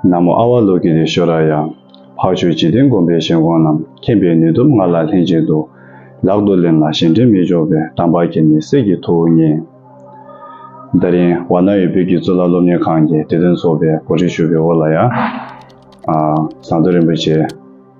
ན་མོ་ཨ་བྷ་ལོ་ཀི་རི་ཤོ་ར་ཡ། འཕགས་ཆོས་འཇིག་རྟེན་སྒོམ་པའི་ཞལ་འགོང་རྣམས་མཁྱེན་པའི་ནུས་སྟོབས་ང་ལ་ལྷན་ཅིག་ཏུ། ལག་ཏུ་ལེན་ལ་གཞན་དྲིང་མི་འཇོག་པའི་དམ་པ་ཁྱེད་ནི་སྲས་ཀྱི་ཐུ་བོ་བརྙེས། ད་རིང་བ་ན་ཡོད་བོད་ཀྱི་གཙུག་ལག་སློབ་གཉེར་ཁང་གི་དེ་དོན་ཚོགས་པའི་གོ་སྒྲིག་ཞུ་བའི་འོག་ལ་ཡ། ཟངས་མདོ་རིན་པོ་ཆེ།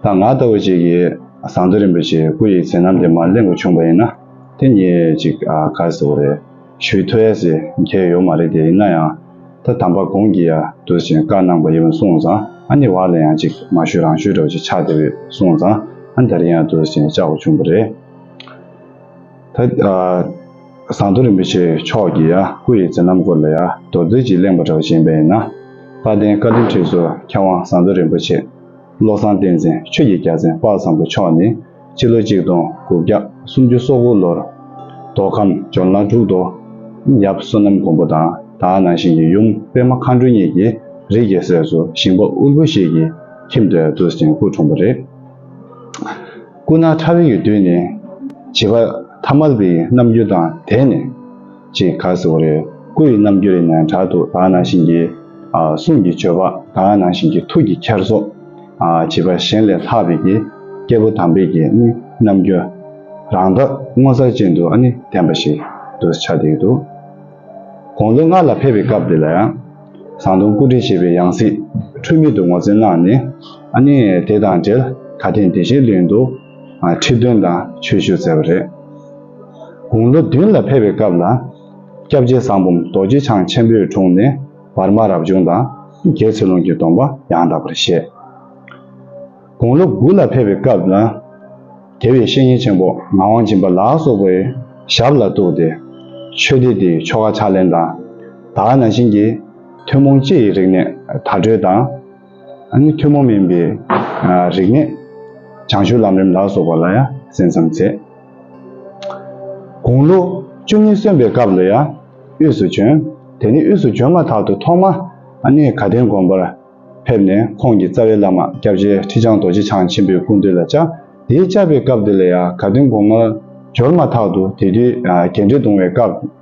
ད་ང་ལྟ་བུ་ཅིག་གིས་ཟངས་མདོས་རིན་པོ་ཆེའི་སྐུ་ཡི་མཚན་རྣམས་དེ་མར་གླེང་དགོས་བྱུང་བ་ཡིན་ན་དེ་ཉིད་ཅིག་ག་ཟེ་བོ་རེད། ཞུས་ཐོས་ཡ་ཟེ་མཁས་ཡོད་མ་རེད་དེ་ཡིན་ན་ཡང་ད་དམ་པ་གོང་གི་ཡ་དུས་བཞིན་བཀའ་གནང་པ་ཡིན་གསུང་ཙང་ཨ་ནི་བ་ལ་ཡང་ཅིག་མ་ཞུས་རང་ཞུས་འགྲོ་ཅིག་ཆགས་དེ་བས་གསུང་ཙང་ཨ་འདར་ཡིན་ཡ་དུས་བཞིན་བཅག་དགོས་བྱུང་བ་རེད། ད་ཟངས་མདོས་རིན་པོ་ཆེ་མཆོག་གི་ཡ་སྐུ་ཡི་མཚན་རྣམ་སྐོར་ལ་ཡ་མདོར་བསྡུས་ཅིག་གླེང་པ་འདྲ་བོ་བྱིན་པ་ཡིན་ན་དཔལ་ལྡན་བཀའ་དྲིན་ཁྲིགས་སུ་མཁས་དབང་ཟངས་མདོས་རིན་པོ་ཆེ་བློ་བཟང་བསྟན་འཛིན་ཆོས་ཀྱི་རྒྱལ་མཚན་དཔག་བཟང་པོ་མཆོག་ནི་སྤྱི་ལོ་ཆིག་སྟོང་དགུ་བརྒྱ་སུམ་ཅུ་སོ་དགུ་ལོར་མདོ་ཁམས་ཇོ་ནང་འབྲུག་རྡོ་ཡབ་བསོད་ནམས་མགོན་པོ་དང་དྭགས་ནང་བཞིན་གྱི་ཡུམ་པད་མ་མཁའ་འགྲོ་གཉིས་ཀྱི་རིགས་ཀྱི་སྲས་སུ་ཞིང་པ་དབུལ་པོ་ཞིག་གི་ཁྱིམ་དུ་བདུད་སྤྱན་སྐུ་འཁྲུངས་པ་རེད། སྐུ་ན་ཕྲ་བའི་ཡུལ་དུས་ནི་བྱིས་པ་ཐ་མལ་པའི་རྣམ་འགྱུར་དང་དེ་ནས། ཅེས་བཀའ་སྩལ་བ་རེད། སྐུ་ཡི་རྣམ་འགྱུར་ནས་དྲག་ཏུ་དག་སྣང་ཞིང་གི། གསུང་གི་སྤྱོད་པ་དག་སྣང་ཞིང་གི་ཐུགས་ཀྱི་འཁྱེར་སོ། བྱིས་པ་གཞན་ལས་ལྷག་པའི་གི། སྐྱེས་བུ་དམ་པའི་གི་ནི་རྣམ་འགྱུར། རང་རྟགས་སྔོ་གཟར་ཅན་དུ་ནི་བསྟན་པ་ཞིག་ཏུ་ཆགས་བསྡད་ཡོད་འདུག། དགུང་ལོ་ལྔ་ལ་ཕེབས་པའི་སྐབས་དེ་ལ་ཡང། ཟངས་དུང་སྐུ་བྲིས་བྱས་པའི་ཡང་སྲིད་འཁྲུལ་མེད་དུ་ངོ་སྤྲོད་གནང་ནས། དེ་དང་འབྲེལ་ཁ་དན་དེ་བཞིན་ལེན་དུ་ཁྲིད་སྟོན་དང་ཆོས་ཞུ་མཛད་པ་རེད། དགུང་ལོ་བདུན་ལ་ཕེབས་པའི་སྐབས་ལ། སྐྱབས་རྗེ་ཟངས་བུམ་རྡོ་རྗེ་འཆང་ཆེན་པོའི་དྲུང་ནས་བར་མ་རབ་བྱུང་དང་རྒྱལ་ཚེ་ལུང་གི་སྡོམ་པ་ཡང་དག་པར་བཞེས། དགུང་ལོ་དགུ་ལ་ཕེབས་པའི་སྐབས་ལ། རྒྱལ་བའི་བཤེས་གཉེན་ཆེན་པོ་ངག་དབང་སྦྱིན་པ་ལ་སོགས་པའི་ཞབས་ལ་གཏུགས་ཏེ། ཆོས་སྡེ་འདིའི་ཆོ་ག་ཕྱག་ལེན་དང། དག་སྣང་བྱིན་གྱིས་ཐུན་མོང་སྤྱི་ཡི་རིག་གནས་དར་གྲོལ་དང། ནི་ཐུན་མོང་མིན་པའི་རིག་གནས། བྱང་ཆུབ་ལམ་རིམ་ལ་སོགས་པ་ལ་ཡང་གསན་བསམ་མཛད། དགུང་ལོ་བཅུ་གཉིས་སོན་པའི་སྐབས་ལ་ཡང་དབུས་སུ་བྱོན། དེ་ནས་དབུས་སུ་བྱོན་མ་ཐག་ཏུ་ཐོག་མར་ནི་དགའ་ལྡན་དགོན་པར་ཕེབས་ནས་ཁོང་གི་རྩ་བའི་བླ་མ་སྐྱབས་རྗེ་ཁྲི་བྱང་རྡོ་རྗེ་འཆང་ཆེན་པོའི་སྐུ་མདུན་ལ་བཅའ། དེའི་བཅའ་པའི་སྐབས་དེ་ལ་ཡང་དགའ་ལྡན་དགོན་མར་འབྱོར་མ་ཐག་ཏུ་དེ་དུས་རྒྱལ་འདྲེ་གདུང་བའི་སྐབས།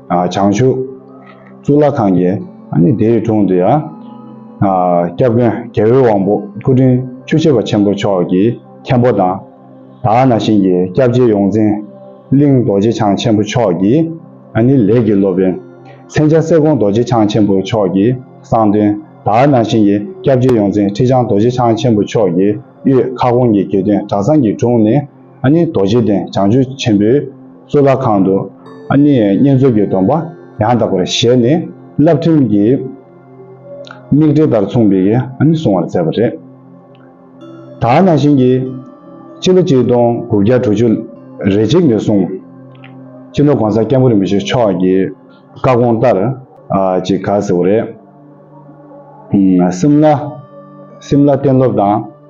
བྱང་ཆུབ། གཙུག་ལག་ཁང་བརྒྱད། དེའི་དྲུང་དུ་ཡང། སྐྱབས་མགོན་རྒྱལ་བོའི་དབང་པོ་སྐུ་ཕྲེང་བཅུ་བྱེ་བ་ཆེན་པོ་མཆོག་གི་མཁན་པོ་དང། དག་ན་ཞིང་གི་སྐྱབས་རྗེ་ཡོངས་འཛིན་གླིང་རྡོ་རྗེ་འཆང་ཆེན་པོ་མཆོག་གི་ལས་ཀྱི་སློབ་དཔོན། མཚན་བྱང་གསེར་ཀོང་རྡོ་རྗེ་འཆང་ཆེན་པོ་མཆོག་གི་གསང་སྟོན། དག་ན་ཞིང་གི་སྐྱབས་རྗེ་ཡོངས་འཛིན་ཁྲི་བྱང་རྡོ་རྗེ་འཆང་ཆེན་པོ་མཆོག་གི་གཡུལ་ཁ་སྐོང་གི་དགེ་འདུན་གྲྭ་ཚང་གི་དྲུང་ནས། ཨ་མྱེས་རྡོ་རྗེ་གདན་བྱང་ཆུབ་ཆེན་པོའི་གཙུག་ལག་ཁང་དུ་ཨ་མྱེས་བསྙེན་རྫོགས་ཀྱི་སྡོམ་པ་ཡང་དག་པར་བཞེས་ནས་བསླབ་ཕྲེང་གི་དམིགས་འབྲེལ་ལྟར་མཚུངས་པའི་གསུང་བར་མཛད་པ་རེད། དག་སྣང་ཞིང་གི། སྤྱི་ལོ་གཅིག་སྟོང་དགུ་བརྒྱ་དྲུག་ཅུ་རེ་གཅིག་ནས་བཟུང། སྤྱི་ནོར་གོང་ས་སྐྱབས་འགྲོ་མི་བཞི་མཆོག་གི་བཀའ་དགོངས་ལྟར། ཅིག་དགའ་ཟེར་བ་རེད། སིམ་ལ། Simla། གཏན་སློབ་དང།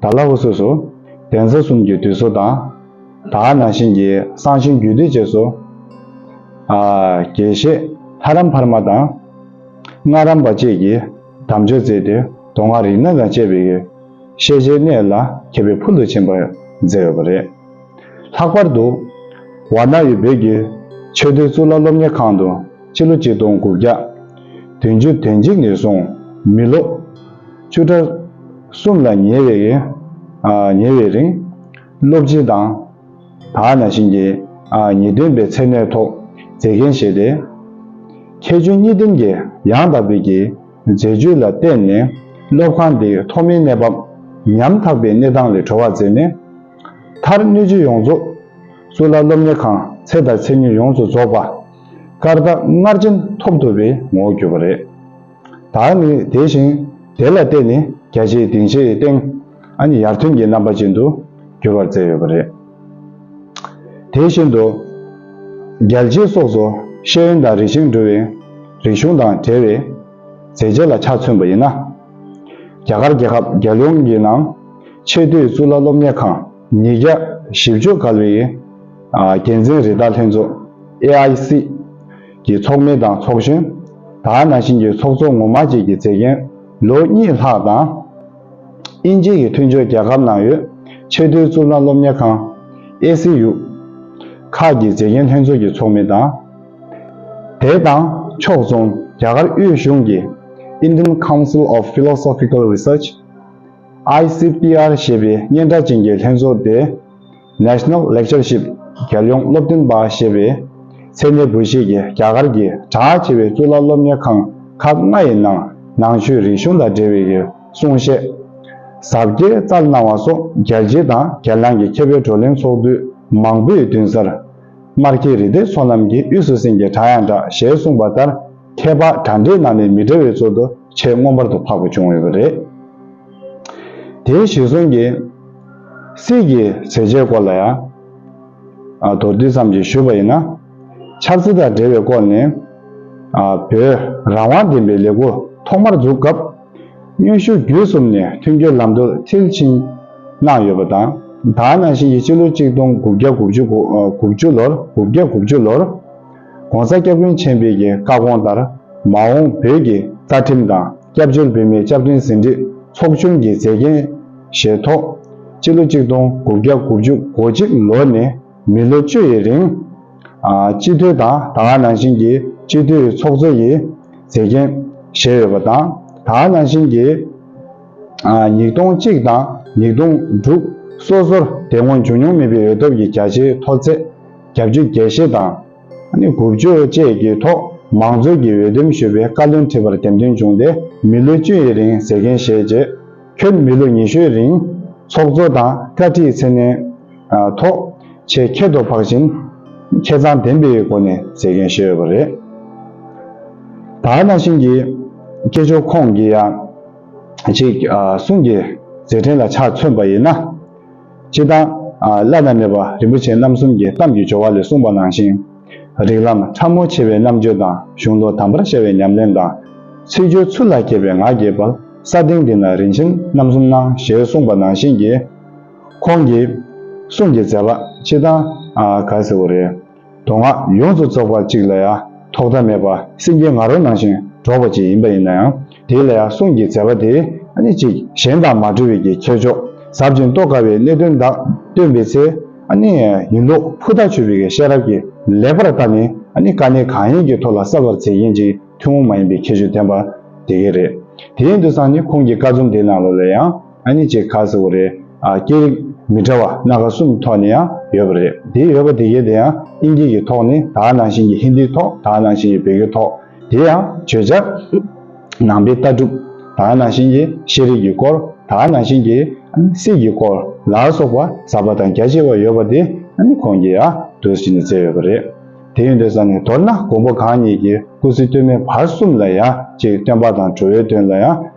ད་ལ་འུ་སོ་སོ། གདན་ས་གསུམ་གྱི་དུད་སོ་དང། དག་སྣང་བཞིན་གྱི་གསང་ཆེན་རྒྱུད་སྡེ་བཅས་སོ། དགེ་བཤེས་ལྷ་རམས་འཕར་མ་དང། སྔགས་རམས་པ་བཅས་ཀྱིས་དམ་ཆོས་བཙལ་ཏེ་མདོ་སྔགས་རིག་གནས་དང་བཅས་པའི་ཤེས་བྱའི་གནས་ལ་མཁས་པའི་ཕུལ་དུ་ཕྱིན་པར་མཛད་ཡོད་པ་རེད། ལྷག་པར་དུ། ཝར་ནཱ་ཡུལ་བོད་ཀྱི་ཆོས་སྡེ་གཙུག་ལག་སློབ་གཉེར་ཁང་དུ་སྤྱི་ལོ་གཅིག་སྟོང་དགུ་བརྒྱ་དོན་བཅུ་དོན་གཅིག་ནས་བཟུང་མི་ལོ་བཅུ་ཕྲག་གསུམ་ལ་ཉེ་བའི་ཉེ་བའི་རིང། སློབ་སྦྱིན་དང། དག་ན་བཞིན་གྱི། ཉེས་དོན་པའི་ཚད་མའི་ཐོག་མཛེས་རྒྱན་བཞེས་ཏེ། མཁས་བཙུན་གཉིས་ལྡན་གྱི་ཡང་དག་པའི་གྱི་མཛད་སྤྱོད་ལ་བརྟེན་ནས་སློབ་ཁང་འདི་ཐོག་མའི་གནས་བབ་ཉམ་ཐག་པའི་གནས་སྟངས་ལས་གྲོལ་བར་མཛད་ནས། མཐར་སྣོད་བཅུད་ཡོངས་རྫོགས་སུ་ལ་སློབ་གཉེར་ཁང་ཚད་དང་ཚད་ཉིད་ཡོངས་སུ་རྫོགས་པ། སྐར་རྟགས་སྔར་བཞིན་ཐོབ་ཐུབ་པའི་ངོ་བོར་གྱུར་པ་རེད། དག་ནི་དེ་བཞིན་དེ་ལ་བརྟེན་ནས་རྒྱ་ཆེའི་སྡིངས་ཆའི་སྟེང་ཨ་ཡར་ཐོན་གྱི་རྣམ་པ་ཅན་དུ་འགྱུར་བར་མཛད་ཡོད་པ་རེད། དེ་བཞིན་དུ། རྒྱལ་རྗེ་སོགས་སུ་ཤེས་ཡོན་དང་རིག་གཞུང་འགྲོ་བའི་རིག་གཞུང་དང་བྲལ་བའི་མཛད་རྗེས་ལ་ཆ་མཚོན་པ་ཡིན་ན། རྒྱ་གར་རྒྱལ་ཁབ་རྒྱལ་ཡོངས་ཀྱི་ནང་ཆེས་མཐོའི་གཙུག་ལག་སློབ་གཉེར་ཁང་ཉིས་བརྒྱ་བཞི་བཅུ་ག་ལ་བའི་འགན་འཛིན་རི་དྭགས་ལྷན་ཚོགས AIC གྱི་ཚོགས་མི་དང་ཚོགས་གཞོན། དར་ནག་ཆིན་གྱི་ཚོགས་གཙོ་ངོ་མ་བཅས་ཀྱི་མཛད་འགན་ལོ་གཉིས་ལྷག་དང། དབྱིན་ཇི་ཡི་མཐུན་སྦྱོར་རྒྱལ་ཁབ་ནང་ཡོད་ཆེས་མཐོའི་གཙུག་ལག་སློབ་གཉེར་ཁང། ACU། ཁག་གི་མཛད་འགན་ལྷན་ཚོགས་ཀྱི་ཚོགས་མི་དང། དེ་དང་ཕྱོགས་མཚུངས་རྒྱ་གར་དབུས་གཞུང་གི Indian Council of Philosophical Research། ICPR། ཞེས་པའི་སྙན་གྲགས་ཅན་གྱི་ལྷན་ཚོགས་ཏེ། National Lectureship། རྒྱལ་ཡོངས་སློབ་སྟོན་པ་ཞེས་པའི་མཚན་གནས་འབུལ་བཞེས་ཀྱིས་རྒྱ་གར་གྱི་གྲགས་ཆེ་བའི་གཙུག་ལག་སློབ་གཉེར་ཁང་ཁག་ལྔ་ཡི་ནང་ནང་ཆོས་རིག་གཞུང་དང་འབྲེལ་བའི་གསུང་བཤད། ཟབ་གཏེར་བསྩལ་གནང་བ་སོགས་རྒྱལ་སྤྱི་དང་རྒྱལ་ནང་གི་མཁས་པའི་བགྲོ་གླེང་ཚོགས་དུས་མང་པོའི་མདུན་སར། སྨར་ཁྱི་རི་སྡེ་ཚོགས་རྣམས་ཀྱིས་དབུས་སུ་སེང་གེ་བྲག་ཡང་བྲག་ཞལ་གསུངས་པ་ལྟར་མཁས་པ་གྲ་འགྲིག་གནང་ནས་མི་དྲ་བའི་ཚོགས་འདུ་ཆེས་མངོན་པར་དུ་འཕགས་པ་བྱུང་ཡོད་པ་རེད། དེའི་གཞིར་བཟུང་གིས། སྲིད་ཀྱི་ཟས་བཅའི་སྐོར་ལ་ཡང། མདོར་བསྡུས་ཙམ་གྱིས་ཞུས་པ་ཡིན་ན། ཆབ་སྲིད་དང་འབྲེལ་བའི་སྐོར་ནི། བོད་རང་དབང་བདེན་པའི་ལས་ཁུར་ཐོག་མར་འཛུགས་སྐབས། གཡོན་ཤུགས་བརྒྱུད་གསུམ་ནས་མཐུན་འགྱུར་ལམ་དུ་མཐིལ་ཕྱིན་གནང་ཡོད་པ་དང། ད་ནང་བཞིན་གྱི་སྤྱི་ལོ་གཅིག་སྟོང་དགུ་བརྒྱ་དགུ་བཅུ་ལོར། ྋགོང་ས ྋསྐྱབས་མགོན་ཆེན་པོས་ཀྱི་བཀའ་དགོངས་ལྟར་མ་འོངས་བོད་ཀྱི་རྩ་ཁྲིམས་དང་སྐྱབས་བཅོལ་བོད་མིའི་སྐྱབས་བསྟུན་ཟིན་བྲིས་ཚོགས་ཆུང་གི་མཛད་འགན་བཞེས་ཐོག་སྤྱི་ལོ་གཅིག་སྟོང་དགུ་བརྒྱ་དགུ་བཅུ་གོ་གཅིག་ལོ་ནས་མི་ལོ་བཅུ་ཡི་རིང་སྤྱི་འཐུས་དང་ད་སྔ་ནང་བཞིན་གྱི་སྤྱི་འཐུས་ཚོགས་གཙོ་ཡི་མཛད་འགན་བཞེས་ཡོད་པ་དང་ད་སྔ་ནང་བཞིན་གྱི་ཉིས་སྟོང་གཅིག་དང་ཉིས་སྟོང་དྲུག་སོ་སོར་དེ་སྔོན་བྱུང་མྱོང་མེད་པའི་འོས་ཐོབ་ཀྱི་རྒྱ་ཆེའི་མཐོ་ཚད། རྒྱབ་ཇུས་རྒྱས་བཤད་དང། དགུ་བཅོས་བཅས་ཀྱི་ཐོག་མང་གཙོའི་གྱི་འོས་འདེམས་ཞུ་བའི་བཀའ་བློན་ཁྲི་པར་འདེམས་ཐོན་བྱུང་སྟེ་མི་ལོ་བཅུ་ཡི་རིང་ཟས་མཁན་བཞེས་རྗེས། ཁྱོད་མི་ལོ་ཉི་ཤུའི་རིང་ཚོགས་གཙོ་དང་བཀའ་ཁྲིའི་མཚན་གནས་ཐོག་ཆེད་ཁྱད་དུ་འཕགས་ཤིང། ཁྱེད་ཚང་བདེན་པའི་སྒོ་ནས་ཟས་མཁན་བཞེས་ཡོད་པ་རེད། ད་ནང་བཞིན་གྱི་སྐད་ཅོར་ཁོངས་ཀྱི་ཡང་ཅིག་གསུང་གི་ཟས་ཕྲན་ལ་ཆ་མཚོན་པ་ཡིན་ན། སྤྱི་དང། བླ་ན་མེད་པ་རིན་པོ་ཆེ་རྣམ་གསུམ་གྱི་གཏམ་གྱི་སྦྱོར་བ་ལས་གསུངས་པ་ནང་བཞིན། རིགས་ལམ་ཕྲ་མོ་ཆེ་བའི་རྣམ་དཔྱོད་དང་གཞུང་ལུགས་དམ་པར་ཤར་བའི་ཉམས་ལེན་དང། ཚིག་སྦྱོར་ཚུལ་ལ་མཁས་པའི་ངག་རྒྱས་པར་ས་སྟེང་འདི་ན་རིན་ཆེན་རྣམ་གསུམ་སྣང་ཞེས་གསུངས་པ་ནང་བཞིན་གྱི། ཁོང་གི། གསུང་གི་མཛད་པ་སྤྱི་དང། ག་ཟེར་བོ་རེད། མདོ་སྔགས་ཡོངས་སུ་རྫོགས་པ་གཅིག་ལ་ཡང་ཐོག་མཐའ་མེད་པར་སེམས་ཀྱི་ང་རོ་ནང་བཞིན་སྒྲོག་པ་ཅིག་ཡིན་པ་ཡིན་ན་ཡང་དེ་ལ་ཡང་གསུང་གི་མཛད་པ་དེ་ནི་ཅིག་གཞན་དང་མ་འབྲེལ་བའི་གི་ཁྱད་ཆོས་ཟབ་ཅིང་རྟོགས་དཀའ་བའི་གནད་དོན་དག་སྟོན་པའི་ཚེ་ཡིན་ལུགས་ཕུ་ཐག་ཆོད་པའི་གི་ཤེས་རབ་ཀྱི་ལེགས་པར་བསྟར་ནས་དཀའ་གནད་གང་ཡིན་གྱི་ཐོག་ལ་གསལ་བར་མཛད་མཁན་གྱི་ཐུན་མོང་མ་ཡིན་པའི་ཁྱད་ཆོས་ལྡན་པ་དེ་གས་རེད། དེའི་འདུ་ཚང་ནི་ཁོང་གི་བཀའ་རྩོམ་དེའི་ནང་ལོ་ལ་ཡང། ཨ་ནི་ཅེས་ཁ་ཟེར་བ་རེད། སྐད་རིགས་མི་འདྲ་བ་སྣ་ཁ་གསུམ་ཐོག་ནས་ཡང་ཡོད་པ་རེད། དེ་ཡོད་པ་དེ་གའི་དེ་ཡང་དབྱིན་སྐད་ཀྱི་ཐོག་ནས་དག་ནང་བཞིན་གྱི་ཧིན་དིའི་ཐོག་དག་ནང་བཞིན་གྱི་བོད་སྐད་ཐོག་དེ་ཡང་བརྗོད་བྱ་ནང་པའི་ལྟ་གྲུབ་དག་ནང་བཞིན་གྱི་ཤེས་རིག་གི་སྐོར་དག་ནང་བཞིན་གྱི་སྲིད་ཀྱི་སྐོར་ལ་སོགས་པ་ཟབ་པ་དང་རྒྱ་ཆེ་བ་ཡོད་པ་དེ་ནི་ཁོང་གིས་ཡང་དུས་ཤིག་ནས་བཙལ་ཡོད་པ་རེད། དེ་ཡོད་འདོད་ས་ནི་མདོར་ན་མགོན་པོ་གང་ཉིད་ཀྱིས་སྐུ་ཚེ་སྟོད་སྨད་བར་གསུམ་ལ་ཡང་ཅིག་སྟོན་པ་དང་གྲོལ་བའི་དོན་ལ་ཡང།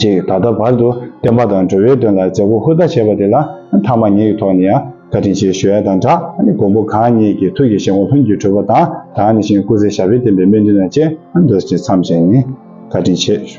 ཅིག་ད་ལྟ་བར་དུ་བསྟན་པ་དང་འགྲོ་བའི་དོན་ལ་མཛད་སྒོ་ཧུར་ཐག་བྱས་པ་དེ་ལ་མཐའ་མ་ངེད་ཀྱི་ཐོག་ནས་ཡང་བཀའ་དྲིན་ཆེ་ཞུ་ཡ་དང་སྦྲགས་མགོན་པོ་གང་ཉིད་ཀྱི་ཐུགས་ཀྱི་བཞེད་དགོངས་ལྷུན་གྱིས་གྲུབ་པ་དང་དྭངས་ནས་ཞིང་སྐུ་ཚེ་ཞབས་པད་བརྟན་པའི་སྨོན་འདུན་དང་བཅས་མདོར་བྱས་མཚམས་བཞེས་ནས་བཀའ་དྲིན་ཆེ་ཞུ།